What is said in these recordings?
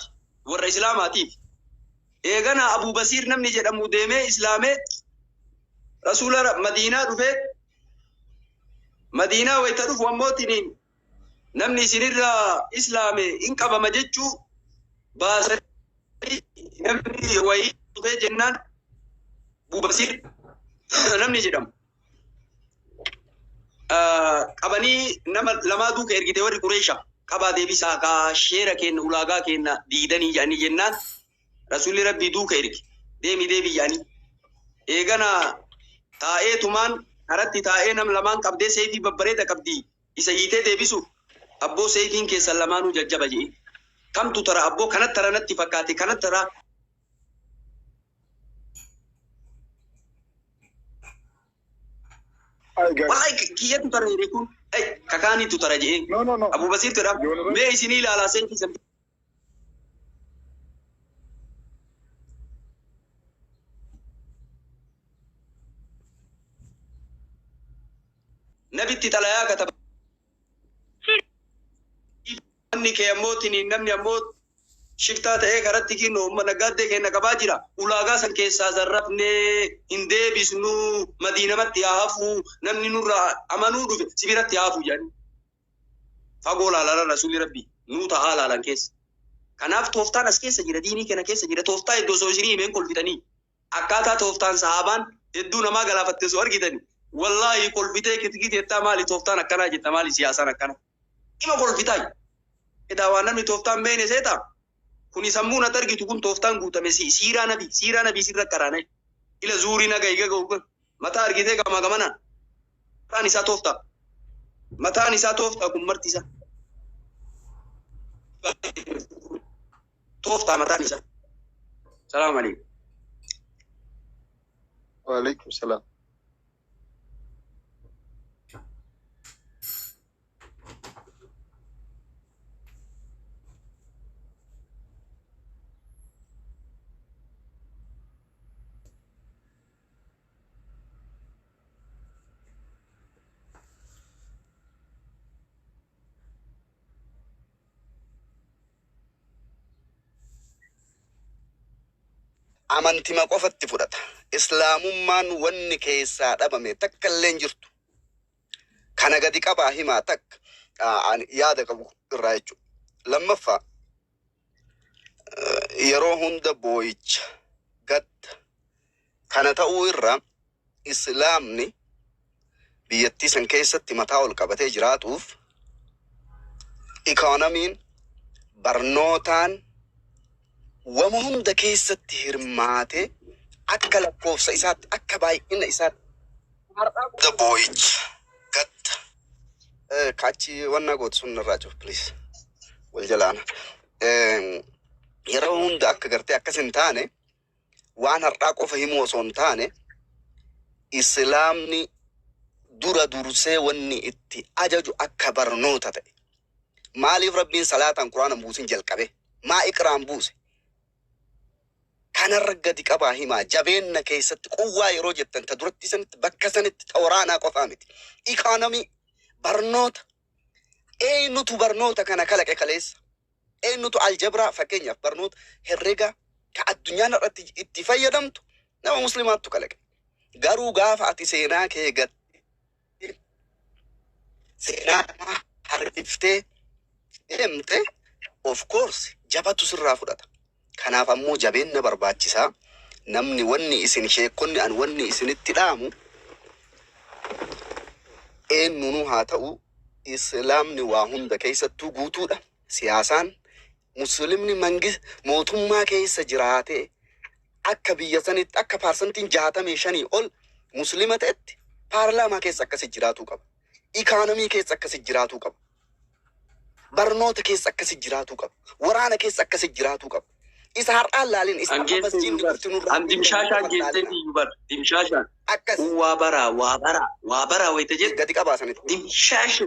Madiinaatti warra Islaamaatiif. Eeganaa Abuu Basiir namni jedhamu deemee Islaamee Rasuula Ra- Madiinaa dhufee Madiinaa wayita dhufu ammoo tiniin namni isinirraa Islaame hin qabama jechuu baasanii namni wayii dhufee jennaan Abuu Basiir namni jedhamu. qabanii nama lamaa duuka ergite warri Qureesha qabaa deebisaa kaa sheera keenna ulaagaa keenna diidanii jedhanii jennaan rasuulli rabbii duuka erge deemi deemi jedhanii eegana taa'ee tumaan karatti taa'ee nam lamaan qabdee seeyfii babbareeda qabdi isa hiitee deebisu abboo seeyfiin keessan lamaanuu jajjaba jedhee kamtu tara abboo kanatti tara natti fakkaate kanatti tara Ay, gar- Wallahi ki- kiyyatu tara jedhee kun ay, kakaaniitu tara jedhee No, no, no. Abuu Basiir jedha Yoonirra- mee isinii ilaalaa seetii san nabitti xalayaa kataba Namni kee ammoo tiniin namni ammoo shiftaa ta'ee karatti kinno umma naggaaddee keenna qabaa jira. Ulaagaa san keessaa zarrafnee hin deebisnu madiinamatti haa hafu namni nurraa amanuu dhufe si biratti haa hafu jedhanii. Fagoo laalara rasuulli rabbii nuu ta'aa laalan keessa. Kanaaf tooftaan as keessa jira diinii kana keessa jira tooftaa iddoo osoo isinii himeen kolfitanii. Akkaataa tooftaan sahaabaan hedduu namaa galaafatte osoo argitani wallaahi kolfitee kitgii teettaa maali tooftaan akkanaa jetta maali siyaasaan akkana ima kolfitaay edaa waan namni tooftaan beeyne seeta kuni sammuun at argitu kun tooftaan guutame si siiraa nabi siiraa nabi sirra karaanay ila zuurii naga higa ga'u Mataa argitee gamaa gamanaan. Mataan isaa tooftaa. Mataan isaa tooftaa kun marti isaa. Tooftaa mataan isaa. Salaam alaikum. Waalaikum salaam. Amantima qofa itti fudhata. Islaamummaan wanni keessaa dhabame takka illee hin jirtu. Kana gadi qabaa himaa takka ah, ani yaada qabu irraa jechuudha. Lammaffaa Yeroo hunda boo'icha, gadda, kana ta'uu irra Islaamni biyyattii san keessatti mataa ol qabatee jiraatuuf ikoonomiin, barnootaan wama hunda keessatti hirmaatee akka lakkoofsa isaatti akka baay'ina isaatti har'aa booda boo'icha, gadda, Eh, Kaachi wanna gootu sun irraa cufu please. Wal jalaana. Eh, Yeroo hunda akka gartee akkas hin taane waan har'aa qofa himuu osoo hin taane islaamni dura dursee wanni itti ajaju akka barnoota ta'e. Maaliif rabbiin salaataan quraana buusin jalqabe? Maa iqraan buuse? Kanarra gadi qabaa himaa jabeenna keessatti quwwaa yeroo jettan ta durattii sanitti bakka sanitti ta waraanaa qofaa miti. Economy, barnoota, eennutu barnoota kana kalaqe kaleessa? Eennutu aljabraa fakkeenyaaf barnoota herrega ka addunyaan har'atti itti fayyadamtu nama muslimaattu kalaqe. Garuu gaafa ati seenaa kee gat seenaa kanaa harkiftee deemte of course jabatu sirraa fudhata. Kanaaf ammoo jabeenna barbaachisaa. Namni wanni isin sheekkonni an wanni isinitti dhaamu eennuunuu haa ta'u islaamni waa hunda keessattuu guutuudha. Siyaasaan, Muslimni mangis mootummaa keessa jiraatee akka biyya sanitti akka parsantiin 65 ol Muslima ta'etti paarlaamaa keessa akkasi jiraatuu qaba. Ikaanomii keessa akkasi jiraatuu qaba. Barnoota keessa akkasi jiraatuu qaba. Waraana keessa akkasi jiraatuu qaba. Isa har'aan laalin isa amma Angeessee masjiinni Yuubar. dhufti nurraa An dimshaashaa miidhamu angeessee laalina. fi Yuubar. Dimshaashaa. Akkas Kun waa baraa, waa baraa, waa baraa wayita jettu gadi qabaa sanitti. dimshaashaa.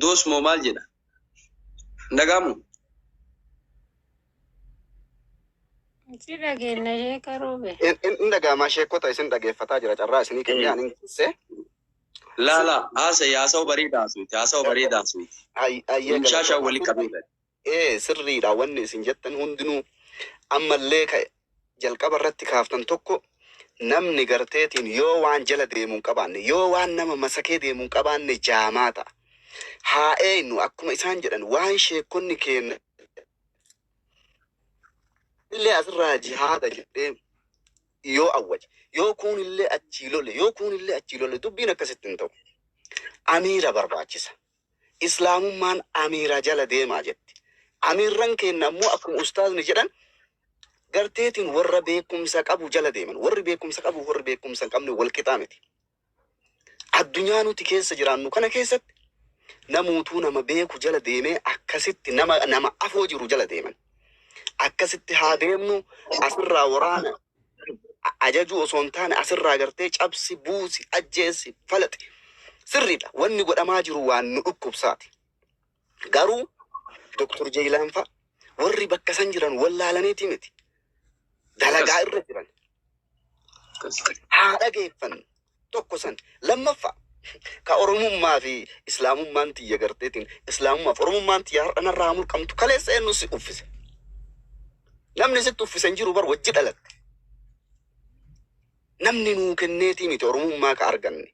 Doos moo maal jedha? Hin dhaga'amu? Si dhageenya sheeka roobee. Hin dhaga'amaa sheekota isin dhageeffataa jira carraa isinii kennee ani hin keessee. Laa laa haasa'e haasawa bareeda haasofte haasawa bareeda haasofte. Hay- Hayyee Inshaa shaa galatoomaa. wali qabee bari. Ee sirriidha wanni isin jettan hundinuu ammallee ka jalqaba irratti kaaftan tokko namni garteetiin yoo waan jala deemu hin qabaanne yoo waan nama masakee deemu hin qabaanne jaamaa ta'a. Haa eeynu akkuma isaan jedhan waan sheekkonni keenya illee asirraa jihaada jedhee yoo awwaje, yoo kuunillee achii lole, yoo kuunillee achii lole dubbiin akkasitti hin ta'u. Amiira barbaachisa. Islaamummaan amiira jala deemaa jetti. Amiirran keenna ammoo akkuma ustaazni jedhan garteetiin warra beekumsa qabu jala deeman. Warri beekumsa qabuuf warri beekumsa hin qabne wal qixaa miti. Addunyaa nuti keessa jiraannu kana keessatti namuutuu nama beeku jala deemee akkasitti nama nama afoo jiru jala deeman. Akkasitti haa deemnu asirraa waraana a- ajajuu osoo hin taane asirraa gartee cabsi, buusi, ajjeessi, falaxi. Sirriidha. Wanni godhamaa jiru waan nu dhukkubsaati. Garuu Doktor Jeeyilaan fa'a warri bakka san jiran wallaalaniiti miti. Dalagaa irra jiran. Haa dhageeffannu. Tokko san. Lammaffaa ka Oromummaa fi Islaamummaan tiyya garteetiin Islaamummaa fi Oromummaan tiyya har'a narraa haa mulqamtu kaleessa eenyu si uffise. Namni sitti uffise hin jiru bar wajji dhalatte. Namni nuu kenneetii miti Oromummaa ka arganne.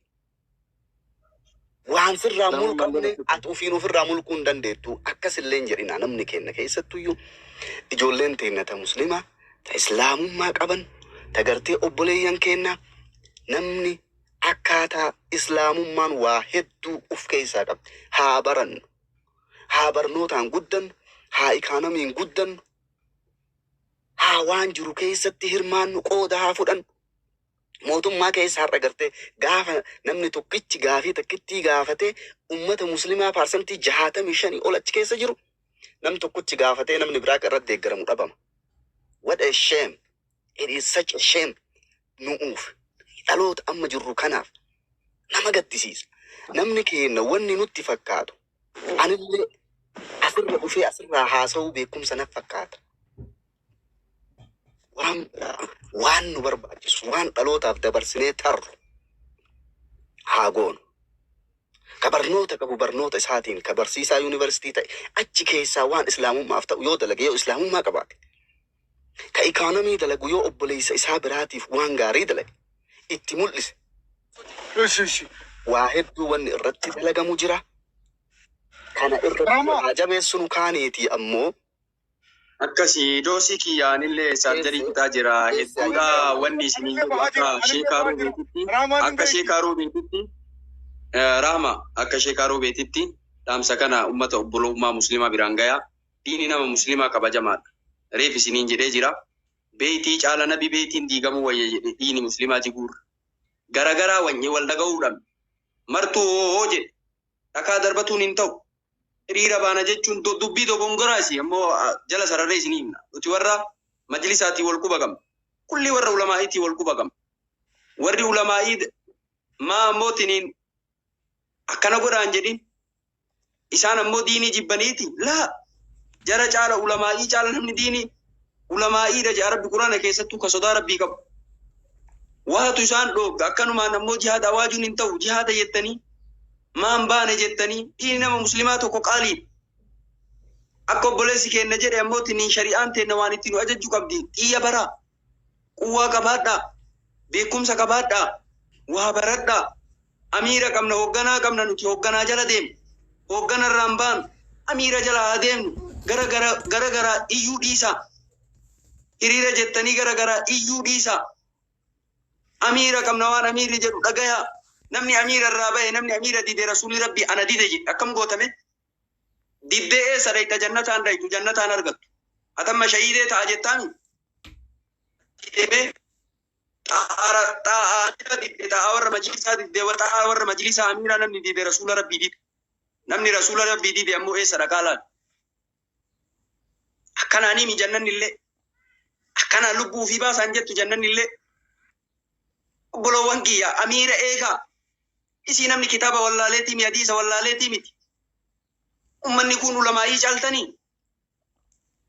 Waan sirraa Nama malee mulqamne rakkate. ati ofiin ofirraa mulquu hin dandeettu. Akkas illee hin jedhinaa namni keenna keessattuyyuu ijoolleen teenna ta muslimaa ta islaamummaa qaban ta gartee obboleeyyan keennaa namni akkaataa islaamummaan waa hedduu uf keessaa qabdi. Haa barannu. Haa barnootaan guddannu. Haa ikaanamiin guddannu. Haa waan jiru keessatti hirmaannu qooda haa fudhannu. Mootummaa keessa har'a gartee gaafa namni tokkichi gaafii takkittii gaafatee ummata muslimaa paarsantii jahaatamii shanii ol achi keessa jiru nam tokkochi gaafatee namni biraa irratti deeggaramu dhabama. What a shame! It is such a shame! Nu'uuf dhaloota amma jirru kanaaf nama gaddisiisa. Namni keenya wanni nutti fakkaatu anillee asirra dhufee asirraa haasa'uu beekumsa naf fakkaata. Waan biraa, waan nu barbaachisu, waan dhalootaaf dabarsinee tarru haa goonu. Ka barnoota qabu barnoota isaatiin, ka barsiisaa yuunivarsiitii ta'e achi keessaa waan Islaamummaaf ta'u yoo dalage, yoo Islaamummaa qabaate, ka ikoonomii dalagu yoo obboleessa isaa biraatiif waan gaarii dalage, itti mul'ise, Ishi ishi. waa hedduu wanni irratti dalagamu jira. Kana irratti Rama. haa jabeessinu. Kaaniitii ammoo Akkasi doosii kiyya anillee saarjarii fixaa jira hedduudha wanni isiniin jedhu akka sheekaa ruubeetitti akka sheekaa ruubeetitti eh, rahma akka sheekaa ruubeetitti dhaamsa kana ummata obbolummaa muslimaa biraan gayaa diini nama muslimaa kabajamaadha reef isiniin jedhee jira beeytii caala nabi beeytiin diigamuu wayya jedhe diini muslimaa jiguurra garagaraa wanyee wal dhaga'uudhaan martuu hoo hoo jedhe dhakaa darbatuun hin ta'u hiriira baana jechuun do- dubbii dogongoraa isii ammoo ah, jala sararree isinii himna. Nuti warra majlisaatii wal quba qabna. Kulli warra ulamaa'iitii wal quba qabna. Warri ulamaa'ii d- maa ammoo tiniin akkana godhaan jedhin isaan ammoo diinii jibbaniiti laa jara caala ulamaa'ii caala namni diinii Ulamaa'iidha ja'a Rabbi Qur'aana keessattuu ka sodaa Rabbii qabu. Waatu isaan dhoogga akkanumaan ammoo jihaada awaajuun hin ta'u jihaada jettanii maan baane jettanii dhiini nama muslimaa tokko qaaliidha. Akka obboleessi keenna jedhe ammoo tiniin shari'aan teenna waan itti nu ajajju qabdi xiyya baraa quwwaa qabaadhaa beekumsa qabaadhaa waa baradhaa Amiira qabna, hoogganaa qabna nuti hoogganaa jala deemna. Hooggana irraa hin baanu. Amiira jala haa deemnu. Gara gara gara garaa iyyuu dhiisaa. Hiriira jettanii gara garaa iyyuu dhiisaa. Amiira qabna waan amiirri jedhu dhagayaa. Namni amiira irraa bahe namni amiira dide rasuulli rabbii ana dide jedhe akkam gootame. Diddee eessa dhayxa jannataan dhayxu jannataan argattu. Atamma shahiidee ta'a jettaami. Deemee xaara xaa'aa amira didde xaa'aa warra majlisaa didde wa xaa'aa warra majlisaa amira namni dide rasuula rabbii dide namni rasuula rabbii dide ammoo eessa dhaqaa laal akkanaa nimi jannanni illee akkanaa lubbuu fi baasaan jettu jannanni illee obboloowwan kiyya amiira eegaa isii namni kitaaba wallaaleetii mi hadiisa wallaaleetii miti ummanni kun ulamaa'ii caaltanii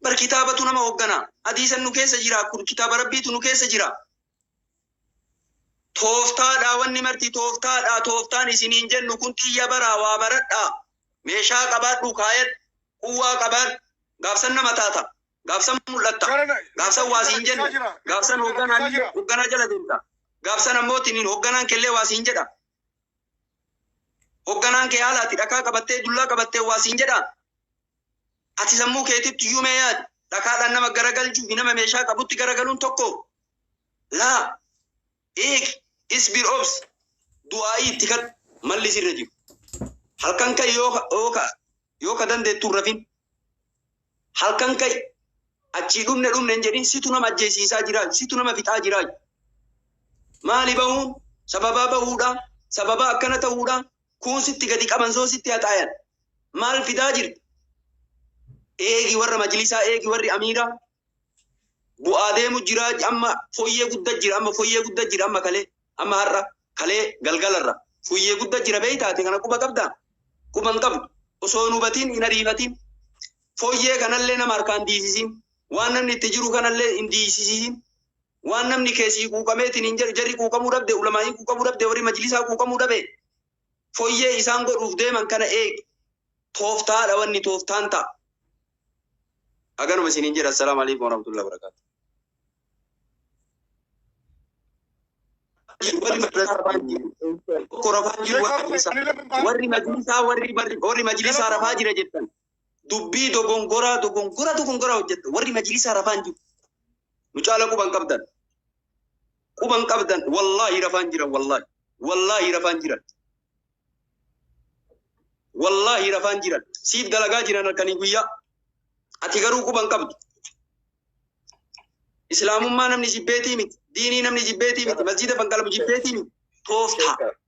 bar kitaabatu nama hoggana hadiisan nu keessa jira kun kitaaba rabbiitu nu keessa jira tooftaadha wanni marti tooftaadha tooftaan isiniin jennu kun xiyya baraa waa baradha meeshaa qabaadhu kaayadhu quwwaa qabaadhu gaafsan nama taata gaafsan mul'atta gaafsan waa siin jenna gaafsan hogganaa hogganaa jala deemta gaafsan ammoo tiniin hogganaan kellee waa siin jedha Hogganaan kee haala ati dhakaa qabattee dullaa qabattee waa siin jedhaa? Ati sammuu keetitti iyyuu mee yaadi. Dhakaadhaan nama garagalchuu fi nama meeshaa qabutti garagaluun tokko? Laa. Eegi, isbir obsi, du'aa'ii itti kadhu, malli sirra jiru. Halkan ka'i yoo ka- yoo ka- yoo ka dandeettu hin rafin. Halkan ka'i. Achii dhumne dhumne hin jedhin situ nama ajjeesiisaa jiraa situ nama fixaa jiraa. Maali bahuun sababaa bahuudha sababaa akkana ta'uudha kuun sitti gadi qaban soo sitti haxaayan maal fidaa jirta. Eegi warra majlisaa eegi warri amiiraa bu'aa deemu jira amma foyyee gudda jira amma foyyee gudda jira amma kalee amma har'a kalee galgalarra foyyee gudda jira beeytaate kana quba qabda quba hin qabdu osoo hin hubatiin hin ariifatiin foyyee kanallee nama harkaan diisisiin waan namni itti jiru kanallee hin diisisiin waan namni keessii quuqameetiin hin jedhu jarri quuqamuu dhabde ulamaa'ii quuqamuu dhabde warri majlisaa quuqamuu dhabe Foyyee isaan godhuuf deeman kana eegi. Tooftaadha wanni tooftaan ta'a. Haganuma isiniin jedha. Assalaamu alaikum warahmatullahi wabarakatuh. Warri madrasaa rafaa jiru. Tokko rafaa jiru warri madrasaa. Warri majlisaa warri warri majlisaa rafaa jira jettan. dubbii dogongoraa dogongora dogongoraa hojjetta warri majlisaa rafaan jiru nu caala quban qabdan quban qabdan wallaahi rafaan jiran wallaahi wallaahi rafaan jiran wallaahi rafaan jiran siif dalagaa jiran halkanii guyyaa ati garuu quban qabdu islaamummaa namni jibbeetii miti diinii namni jibbeetii miti masjiida fanqalamu jibbeetii miti tooftaa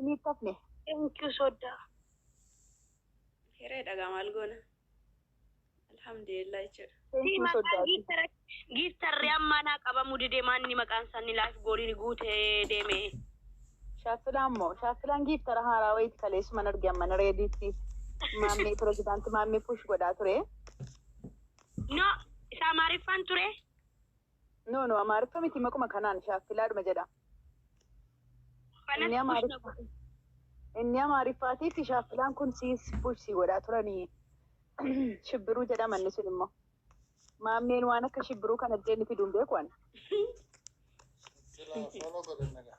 Ini tafne. Thank you sodda. Hereedha gaa maal goona. Alhamdulillah jechuudha. Thank you sodda. Giiftarri ammaa naa qabamu dide maanni maqaan isaanii laayif gooliin guutee deeme. Shaaffilaan moo shaaffilaan giiftara haaraa wayiiti kaleessuman arge amman reediitti maammee pirezidaanti maammee push godhaa ture. No, isa Amaariffaan ture. No no amaariffa miti maquma kanaan shaakkilaadhuma jedha. Inni amaariffa inni amaariffaatiif shaakkilaan kun siis push si godhaa turanii shibbiruu jedhama inni sun immoo. Maammeen waan akka shibbiruu kana illee inni fiduun beeku ani. Follow godhan nagaa.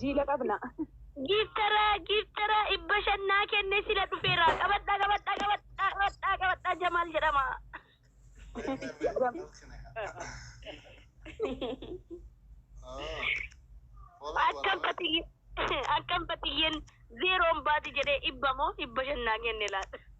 Jiila qabna. Giiftaraa giiftaraa dhibba shan naa kenne sila dhufeera qabadhaa qabadhaa qabadhaa qabadhaa qabadhaa jamaal jedhama. Akkam fatiyye akkam fatiyyen zeeroon baati jedhee dhibba moo dhibba shan naa kenne laata.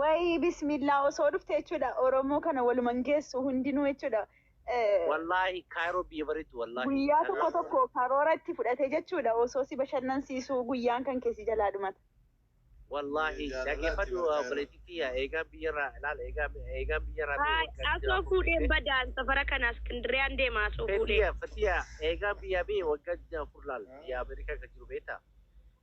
Wayii bismillaa osoo dhufte jechuudha Oromoo kana waluman geessu hundinuu jechuudha. Eh, Wallaahi Kaayiroo biyya bareeddu wallaahi. Guyyaa tokko Kanaaf- tokko karoora itti fudhate jechuudha osoo si bashannansiisuu guyyaan kan keessi jalaa dhumata. Wallaahi Jaalala dhaggeeffadhu itti barbaada. obboleettiitti yaa eegaan biyyarraa ilaal eegaan eegaan biyyarraa bee waggaa Asoo jijjiiramu fuudheen beekte. badaan safara kana Iskindiriyaan deema asoo fuudhee. Fatiya Fatiya eegaan biyyaa bee waggaa jijjiiramu fur laal biyya Ameerikaa kan jiru beekta.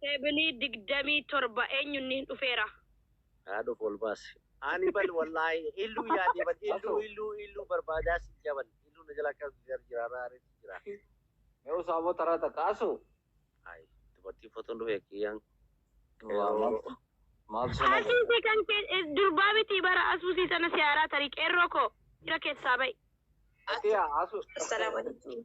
Seven digdamii torba eenyu nnh dhufeera. Haa dhufu ol baasi. Ani bar wallahi illu yaade bar illu illu illu barbada sin jaa bar illu na jala akka gar jira na areti jira. Mee usaa moo taraa takka asuu. Ayi dubartii foton dhufee kiyyaan qeeroo. Asuuse kan kee durbaa mitii bara asuusii sana siyaaraa tarii qeerroo koo jira keessaa ba'i. Fatiya asu. Assalamu alaikum.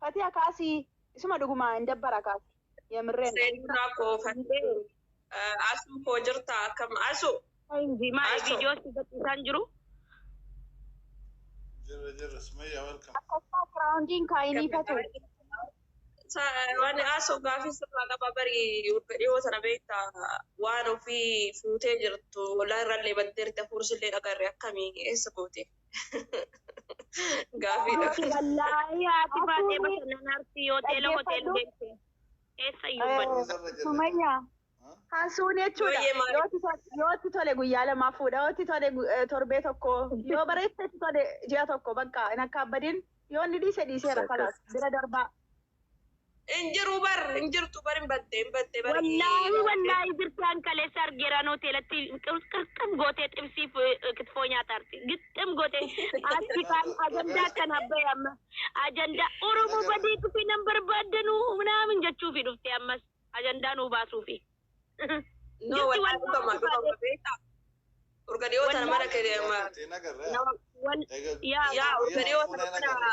Fatiya kaasi isuma dhuguma hin dabbara kaasi yamreen. Seenurraa koo fadhee asuu koo jirtaa akkam asu. Inji maali Asu. video si gadhiisaan jiru. Jirra jirra Sumayyaa welcome. Akkasumaa kiraawundiin kaayinii fatu. Wani asu gaafii sirraa qaba bari wagga dhiyoo sana beekta waan ofii fuutee jirtu walaa irrallee baddeerti hafuursillee dhagarre akkamii eessa gootee. Gaafiidha. Ati wallaahi haati baatee bashannan arsii yoo teela hotel deemte eessa iyyuu hin baddu. Eessarra jirra? Sumayya kan suuni jechuudha. Yooyyee maali? Yoo itti tole- Yoo itti tole guyyaa lamaa fuudha. Yoo itti tole gu- eh, torbee tokko. Yoo bareecha itti tole ji'a tokko bakka hin akkaabbadin. Yoo inni dhiise dhiiseera Exactly. kalaas bira darbaa. Hin jiru bar hin jirtu bar hin badde hin badde bar. Wallaahi wallaahi jirtaan kaleessa argeeraan hoteelatti qirxim gootee xibsii kitfoo nyaataarti. Gixxim gootee achi kaan ajandaa akkan abba'e amma ajandaa Oromoo badee dhufee nan barbaaddanu minaamin jechuufi dhufte ammas ajandaa nuu baasuufi. No wallaahi dhufama dhufama beektaa. Urga dhiyoo tana mana kee deema. Yaa urga dhiyoo tana mana.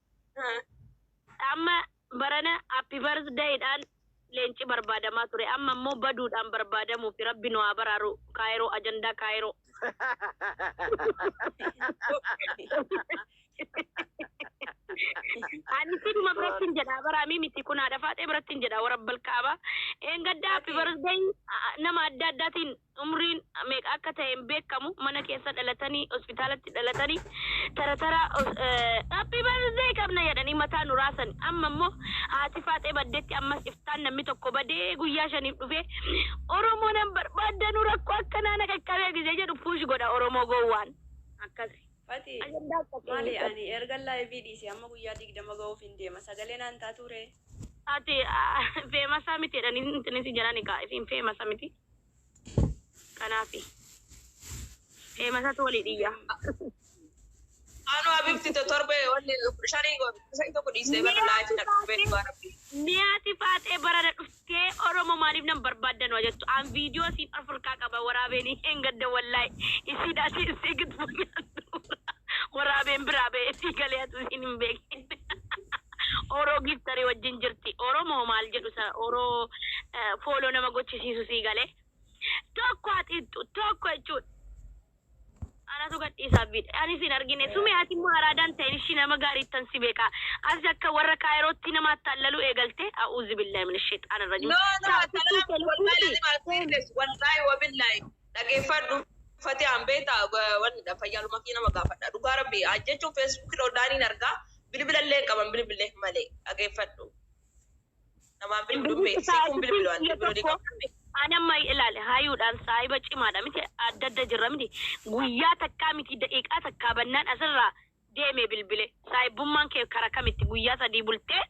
Amma barana happy birthday dhaan leenci barbaadamaa ture amma immoo baduudhaan barbaadamuufi rabbi nu haa baraaru kaayiroo ajandaa kaayiroo. Ani siduma birattin jedha baraamii miti kun haadha faaxee birattin jedha warabbalkaaba. Eengaddaa happy birthday nama adda addaatiin umriin meeqa akka ta'e hin beekkamu mana keessa dhalatanii hospitaalatti dhalatanii tara tara happy birthday qabna jedhanii mataa nu raasani amma immoo haati faaxee baddetti ammas iftaan namni tokko badee guyyaa shaniif dhufee oromoo nan barbaaddanu rakkoo akkanaa na qaqqabee gizee jedhu puush godha oromoo gowwaan akkasi Fati, ajandaa akkasii maali hin ani erga laayivii dhiise amma guyyaa digdama ga'uuf hin deema. Sagalee naan taatuu ree? ati feemasaa miti jedhanii intinisi jedhani kaa isin feemasa miti Kanaafi. Eemasatu walii dhiyya. Anu abibti to torbe wanni shari shari tokko dhiisee bara laafi na dhukkubee dhugaa rabbi. Niyaati faaxee barana dhuftee oromo maaliif nan barbaadda nu ajettu an viidiyoo isiin of irkaa qaba waraabeen isheen gadda wallaay isiin asi isii giddu nyaadhu waraabeen biraa ba'ee sii galee atu isiin hin beekin. Oro giftari wajjin jirti oromoo maal jedhu sa oro follow nama gochisiisu sii gale tokko haa xixxu tokko jechuudha anatu gadhiisaaf bidhe ani sin argine sumee ati immoo araadaan ta'in ishii nama gaariittan si beeka as akka warra kaayirootti nama attaallaluu eegalte a'uuzi billahi min shexaan irra jiru No, no, saafittii salam, kee wallahi lubbuuti lazim I'll say this, wallahi wa billahi. Dhageeffadhu fatiyaan beektaa wanni dha fayyaaluma kiyya nama gaafadha dhugaa rabbii haa jechuun facebook irra hundaaniin argaa bilbila illee hin qaban bilbilleef malee dhageeffadhu namaan bilbilu hin beektu siifuu hin bilbilu ani bilbiluu ni qabda mee. Ani amma ilaali hayuudhaan saahiba cimaadha miti adda adda jirra miti guyyaa takkaa miti daqiiqaa takkaa bannaan asirraa deeme bilbile saahibbummaan kee kara kamitti guyyaa sadii bultee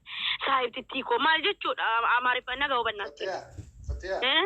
saahibtittii koo maal jechuudha amaariffaan naga hubannaa Fatiyaa, Fatiyaa. Eh?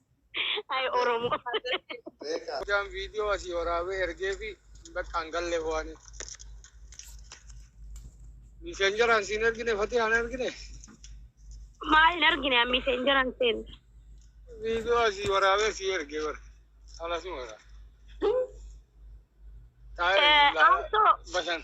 Ay Oromo. Beekaa. Hojaan viidiyoo asii waraabee ergee fi bakka hin galle ho'anii. Miseen jiraan siin ergine fatii haan ergine. Maal hin argine ammi seen jiran seen. Viidiyoo asii waraabee sii ergee bara. Haala suma irraa. Taa'ee Eh, laa- also- bashan.